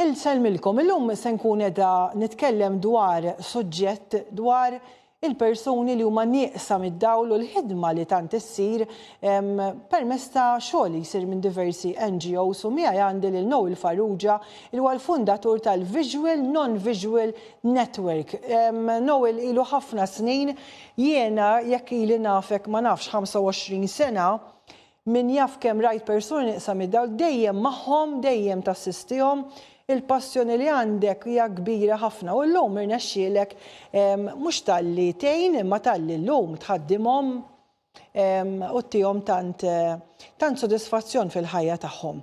Insellmilkom, illum se nkun qiegħda nitkellem dwar suġġett dwar il-persuni li huma nieqsa mid-dawl u l-ħidma li tant issir permezz ta' xogħol li jsir minn diversi NGOs u miegħi għandi lil Noel Farrugia li huwa l-fundatur tal-Visual Non-Visual Network. Noel ilu ħafna snin, jiena jekk ili nafek ma nafx 25 sena, Min jaf kemm rajt persuni nieqsa mid-dawl, dejjem magħhom, dejjem tassistihom. Il-passjoni li għandek hija kbira ħafna u llum irnexxielek mhux talli tgħin imma talli llum tħaddimhom u ttihom tant tant sodisfazzjon fil-ħajja tagħhom.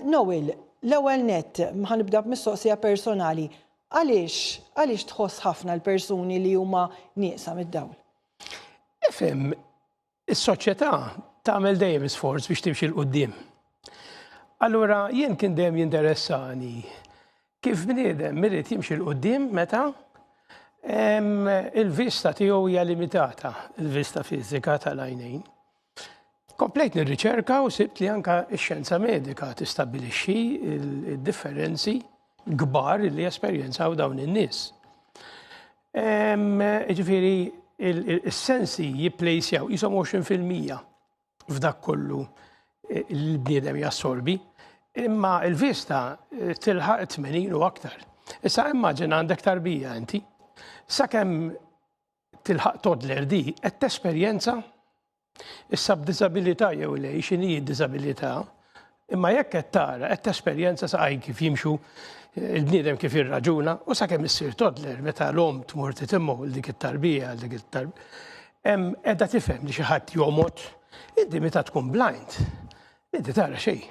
Noel, l-ewwel nett, ħa nibda b'mistoqsija personali, għaliex għaliex tħoss ħafna l-persuni li huma nieqsa mid-dawl? Ifhem, Is-soċjetà tagħmel dejjem isforz biex timxi 'l quddiem. Allura jien kien dejjem jinteressani kif bniedem irid jimxi 'l quddiem meta il-vista tiegħu hija limitata, il-vista fiżika tal-għajnejn. Komplejt nirriċerka u sibt li anke x-xjenza medika tistabbilixxi d-differenzi kbar li jesperjenzaw dawn in-nies. Ġifiri, il-sensi jipplejsjaw jisom 20% f'dak kollu eh, l-bniedem jassorbi, imma il-vista eh, tilħaq 80 u aktar. Issa immaġin għandek tarbija inti, sakemm tilħaq todler di, qed tesperjenza Issa b'diżabilità jew le, x'inhi d-diżabilità, imma jekk qed tara, qed tesperjenza sa għaj kif jimxu eh, il-bniedem kif jirraġuna u sakemm issir toddler meta l-om tmur titimmu l dik it-tarbija, l dik it-tarbija. Edha tifhem li xi ħadd jomot, inti meta tkun blind, Inti tara xejn.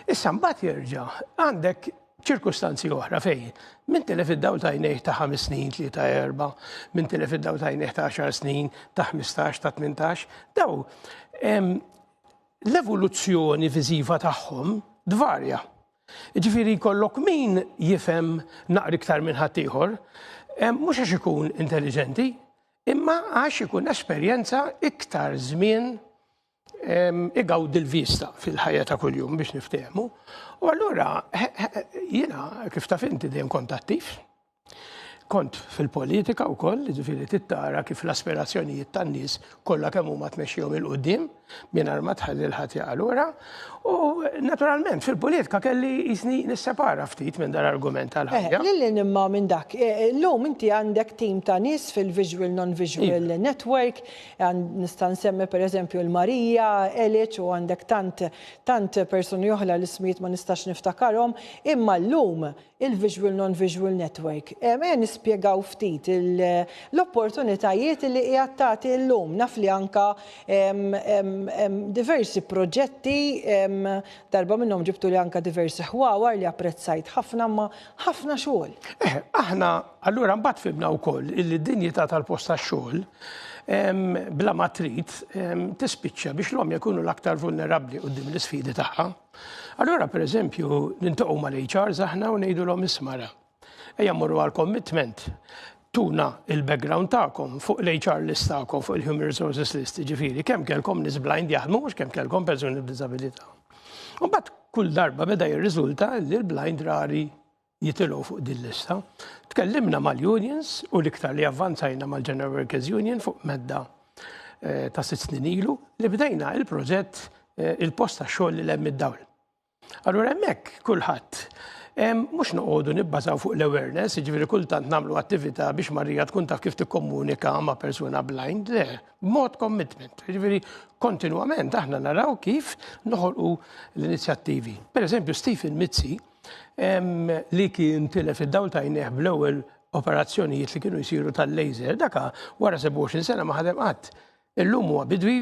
Issa mbagħad jerġa' għandek ċirkustanzi oħra fej, minn tilef id-daw tajnejh ta' 5 snin, 3-4, minn tilef id-daw tajnejh ta' 10 snin, ta' 15, ta' 18, daw l-evoluzzjoni viżiva tagħhom dvarja. Ġifiri kollok min jifem naqri iktar minn ħaddieħor, mhux għax ikun intelligenti, imma għax ikun esperjenza iktar żmien igawdi l-vista fil-ħajja ta' kuljum biex niftehmu. U allura jiena kif taf inti dejjem kont attiv. Kont fil-politika wkoll, ġifieri tittara kif l-aspirazzjonijiet tan-nies kollha kemm huma tmexxihom il-qudiem mingħajr ma tħalli l-ħadd jaqalura. U naturalment fil-politika kelli jisni nissepara ftit minn dan argument tal-ħajja. Eh, lil imma minn dak, eh, illum inti għandek tim ta' nies fil-Visual Non-Visual iva. Network Nista' nsemmi pereżempju l-Marija, Eliċ u għandek tant tant persuni oħra li smijiet ma nistax niftakarhom, imma llum il-visual non-visual network. Ejja nispjegaw ftit l-opportunitajiet li qiegħed tagħti llum. Naf li anka diversi proġetti darba minnhom ġibtuli anka diversi ħwawar li apprezzajt ħafna imma Ħafna xogħol. Eh, aħna allura mbagħad fibna wkoll illi d-dinjità tal-post tax-xogħol bla ma trid tispiċċa biex l-om jkunu l-aktar vulnerabbli qudiem l-isfidi tagħha. Allura pereżempju nintoqgħu mal-HR aħna u ngħidulhom ismara. Ejja mmorru għal commitment tuna il-background tagħkom fuq l-HR list tagħkom, fuq il-Human Resources list, jiġifieri kemm kellkom nies blind jaħdmu mhux kemm kellkom persuni b'diżabilità. U mbagħad kull darba beda jirriżulta li l-blind rari jitilgħu fuq din lista. Tkellimna mal-unions u l-iktar li avvanzajna mal-General Workers Union fuq medda eh, ta' sitt snin ilu li bdejna il-proġett eh, il-post ta' xogħol li lemm id-dawl. Allura hemmhekk kulħadd mhux noqogħdu nibbażaw fuq l-awareness, jiġifieri kultant nagħmlu attività biex Marija tkun taf kif tikkomunika ma' persuna blind, le, mod commitment. Jiġifieri kontinwament aħna naraw kif noħolqu l-inizjattivi. Per eżempju, Stephen Mizzi li kien tilef id-dawl tajnieh bl-ewwel operazzjonijiet li kienu jsiru tal-laser, daka wara 27 sena ma ħadem qatt. Illum huwa bidwi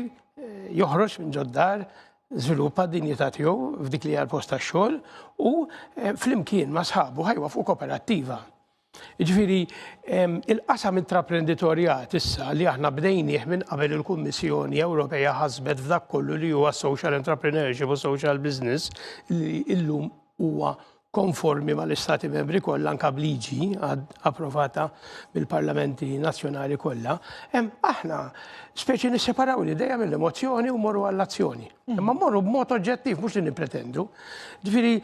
joħroġ minn ġoddar żviluppa d-dinjità tiegħu f'dik li għal post tax-xogħol u eh, flimkien ma' sħabu ħajwa fuq kooperattiva. Ġifiri, il-qasam intraprenditorjat issa li aħna bdejnieh minn qabel il-Kummissjoni Ewropea ħasbet f'dak kollu li huwa social entrepreneurship u social business li illum huwa konformi mal-Istati membri kollha anka b'liġi approvata mill-parlamenti nazzjonali kollha, hemm aħna speċi nisseparaw l-idea mill-emozzjoni u morru għall-azzjoni. Mm. Imma morru b'mod oġġettiv mhux li nippretendu. Ġifieri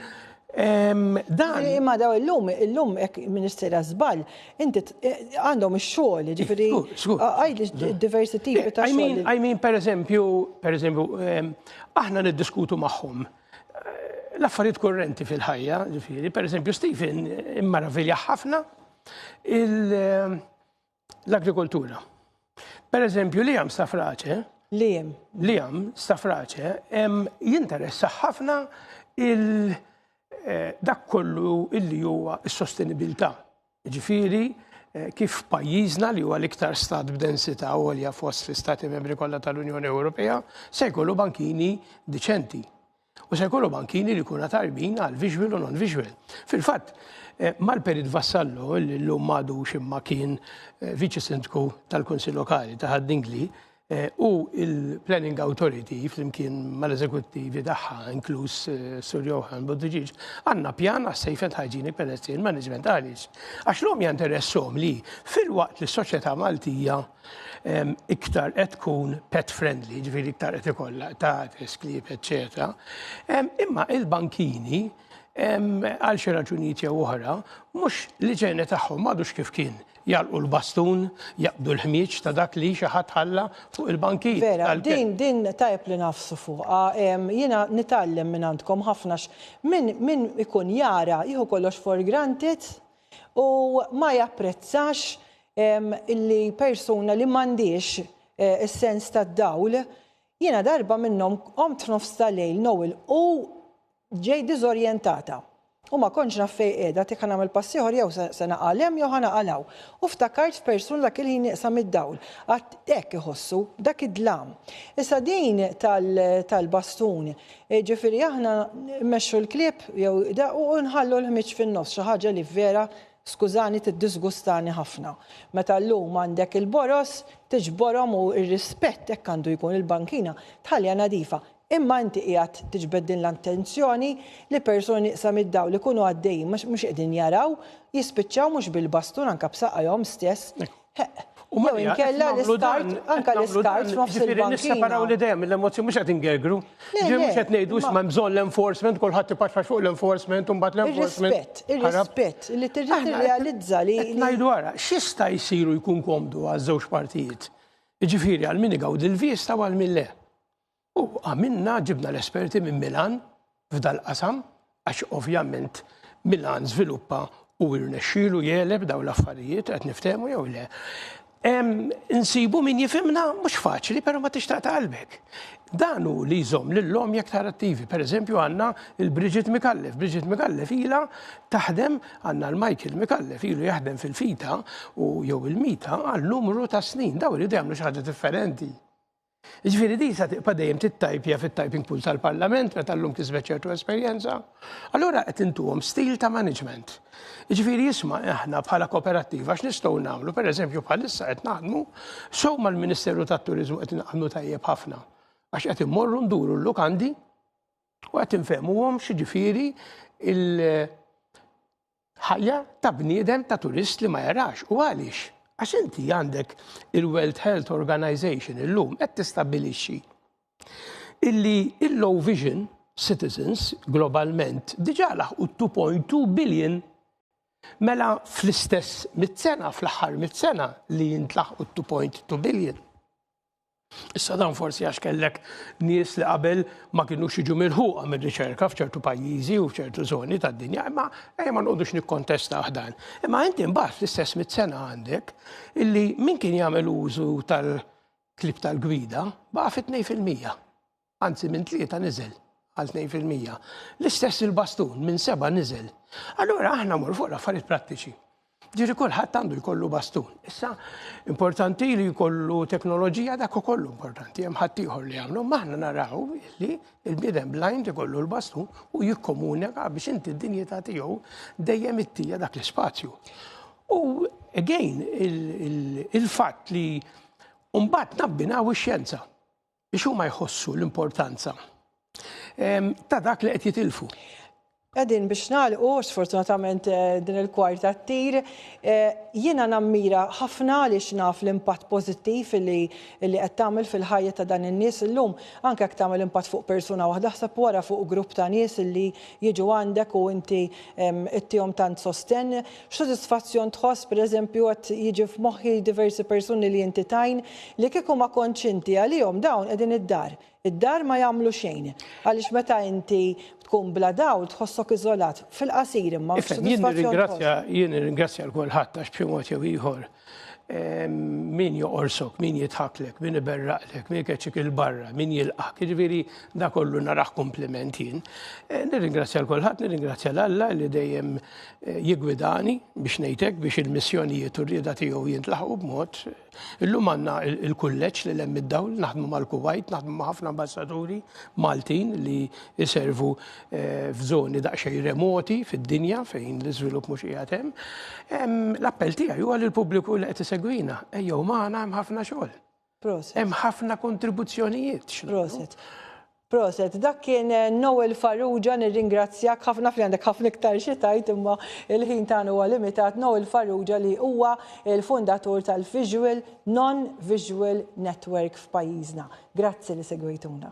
Dan. Imma daw illum, illum ek ministera zbal, inti eh, għandhom xogħol, ġifiri. Għajdi diversi tipi ta' xogħol. I mean, per eżempju, per eżempju, aħna niddiskutu magħhom l-affarijiet kurrenti fil-ħajja, ġifiri, per eżempju, Stephen immaravilja ħafna l-agrikoltura. Per eżempju, li għam stafraċe, li għam, li għam stafraċe, jinteressa ħafna il- eh, dak kollu illi huwa s-sostenibilità. Jiġifieri, kif pajjiżna, li huwa l-iktar stat b'densità għolja fost l-Istati Membri kollha tal-Unjoni Ewropea, se jkollu bankini diċenti. U se jkollu bankini li jkunu tajbin għal visual u non-visual. Fil-fatt, eh, Malperit Vassallo, li llum m'għadux imma kien eh, viċi sindku tal-Kunsill Lokali ta' Ħaddingli, u l-Planning Authority flimkien mal-eżekuttivi tagħha, inkluż Sur Johann Buttigieg, għandna pjan għas-safe and hygienic pedestrian management għaliex għax l-għomja interesshom li filwaqt li s-soċjetà Maltija iktar qed tkun pet friendly, jiġifieri iktar qed ikollha qtates, klieb, eċċetera, imma l-bankini għal xi raġunijiet jew oħra mhux l-iġene tagħhom m'għadux kif kien Jagħlqu l-bastun, jaqbdu l-ħmieġ ta' dak li xi ħadd ħalla fuq il-bankit tal-kelb. Vera, din, din tajjeb li ngħafsu fuqha. Jiena nitgħallem minn għandkom ħafna għax min, min ikun jara jieħu kollox for granted u ma japprezzax illi persuna li m'għandhiex is-sens tad-dawl, jiena darba minnhom qomt f'nofs tal-lejl nogħilqu Ġejt diżorjentata. U ma kontx naf fejn qiegħda, t-tiekk ħa nagħmel pass ieħor jew se se naqa' 'l hemm jew ħa naqa' 'l hawn. U ftakart f'persuna dak il-ħin nieqsa mid-dawl. Għad hekk iħossu, dak id-dlam. Issa din tal tal-bastun. Jiġifieri aħna mmexxu l-klieb jew da u u nħallu l-ħmieġ fin-nofs, xi ħaġa li vera, skużani, tiddisgustani ħafna. Meta llum għandek il-boroż, tiġborhom u r-rispett hekk għandu jkun, il-bankina tħalliha nadifa. Imma inti qiegħed tiġbed din l-attenzjoni li persuni nieqsa mid-dawl ikunu għaddejjin ma mhux qegħdin jaraw, jispiċċaw mhux bil-bastun anke b'saqajhom stess, heq, jew inkella l-iskart, anke l-iskart f'nofs il-bankina. Jiġifieri nisseparaw l-idea mill-emozzjoni, mhux qed ingergru. Ġifieri mhux qed ngħidu issa m'hemm bżonn l-enforcement, kulħadd ipaxpax fuq l-enforcement u mbagħad l-enforcement. Ir-rispett, ir-rispett, li trid tirrealizza li. Qed ngħidu ara, x'jista' jsir u jkun komdu għaż-żewġ partijiet, jiġifieri għal min igawdi l-vista u għal min le. U għamilna ġibna l-esperti minn Milan f'dal-qasam għax ovvjament Milan żviluppa u rnexxielu jegħleb dawn l-affarijiet qed niftehmu jew le. Insibu min jifimna mhux faċli, però ma tixtaq ta' qalbek. Dan hu li jżomm lil-lom jekk tar attivi. Per eżempju għandna il-Bridget Mikallef. Bridget Mikallef ila taħdem għandna l-Michael Mikallef ilu jaħdem fil-fita u jew il-mita għal numru ta' snin. Daw iridu jagħmlu xi ħaġa differenti. Jiġifieri din sa tibqa' dejjem tittajpja fit-typing pool tal-Parlament meta llum kisbet ċertu esperjenza. Allura qed intuhom stil ta' management. Jiġifieri isma' aħna bħala koperattiva x'nistgħu nagħmlu, pereżempju bħalissa qed naħdmu sew mal-Ministeru tat-Turiżmu qed naħdmu tajjeb ħafna għax qed immorru nduru l-lukandi u qed infehmuhom x'jiġifieri l- Ħajja ta' bniedem ta' turist li ma jarax. U għaliex? Għax inti għandek il-World Health Organization illum qed tistabbilixxi illi il-low vision citizens globalment diġà laħqu 2.2 billion. Mela fl-istess mitt sena, fl-aħħar mitt sena li jintlaħqu 2.2 billion. Issa dan forsi għax kellek nies li qabel ma kinux jiġu milħuqa mir-riċerka f'ċertu pajjiżi u f'ċertu zoni tad-dinja, imma ejja ma nqogħdux nikkontesta dan. Imma inti mbagħad fl-istess mit-sena għandek illi min kien jagħmel użu tal-klib tal-gwida baqa' fit-2 fil-mija. anzi minn tlieta niżel għal 2%. L-istess il-bastun minn seba niżel. Allura aħna mur fuq l-affarijiet prattiċi. Ġiri kulħadd għandu jkollu bastun. Issa, importanti li jkollu teknoloġija dak ukoll importanti, hemm ħaddieħor li jagħmlu, maħna naraw li l-bniedem blind ikollu l-bastun u jikkomunika biex inti d-dinjità tiegħu dejjem ittija dak l-ispazju. U again, il-fatt li mbagħad nabbinaw ix-xjenza. Biex huma jħossu l-importanza ta' dak li qed jitilfu. Qegħdin biex nagħlqu, sfortunatament eh, din il-kwarta ttir, eh, jiena nammira ħafna li xnaf l-impatt pożittiv li li qed tagħmel fil-ħajja ta' dan in-nies illum, anke jekk tagħmel impatt fuq persuna waħda ħseb wara fuq grupp ta' nies li jiġu għandek u inti ittihom tant sostenn X'sodisfazzjon tħoss, pereżempju, qed jiġi f'moħħi diversi persuni li inti tgħin, li kieku ma kontx inti għalihom dawn qegħdin id-dar, id-dar ma jagħmlu xejn. Għaliex meta inti tkun bla dawl tħossok iżolat, fil-qasir imma x'sodisfazzjon tħoss? Jien nirringrazzja lil kulħadd għax b'xi mod jew ieħor min joqorsok, min jitħaklek, min iberraqlek, min keċik il-barra, min jilqak, ġviri da kollu naraħ kompliment jien. Eh, nirringrazzja l-kolħat, nirringrazzja l-Alla li dejjem eh, jigwidani biex nejtek biex il-missjonijiet u rrida tiegħu jintlaħu b'mod. Illum għandna il-kulleġġ li lemm id-dawl, naħdmu mal-Kuwait, naħdmu ma' ħafna ambassaduri Maltin li jiservu f'żoni daqsxejn remoti fid-dinja fejn l-iżvilupp mhux qiegħed hemm. L-appell tiegħi huwa lil pubbliku li qed isegwina, ejjew magħna hemm ħafna xogħol. Proset. Hemm ħafna kontribuzzjonijiet. Proset. Proset, dak kien eh, Noel Farrugia, nirringrazzjak ħafna fli għandek ħafna iktar xi tajt imma il-ħin tagħna huwa limitat Noel Farrugia li huwa il-fundatur tal-Visual Non-Visual Network f'pajjiżna. Grazzi li segwejtuna.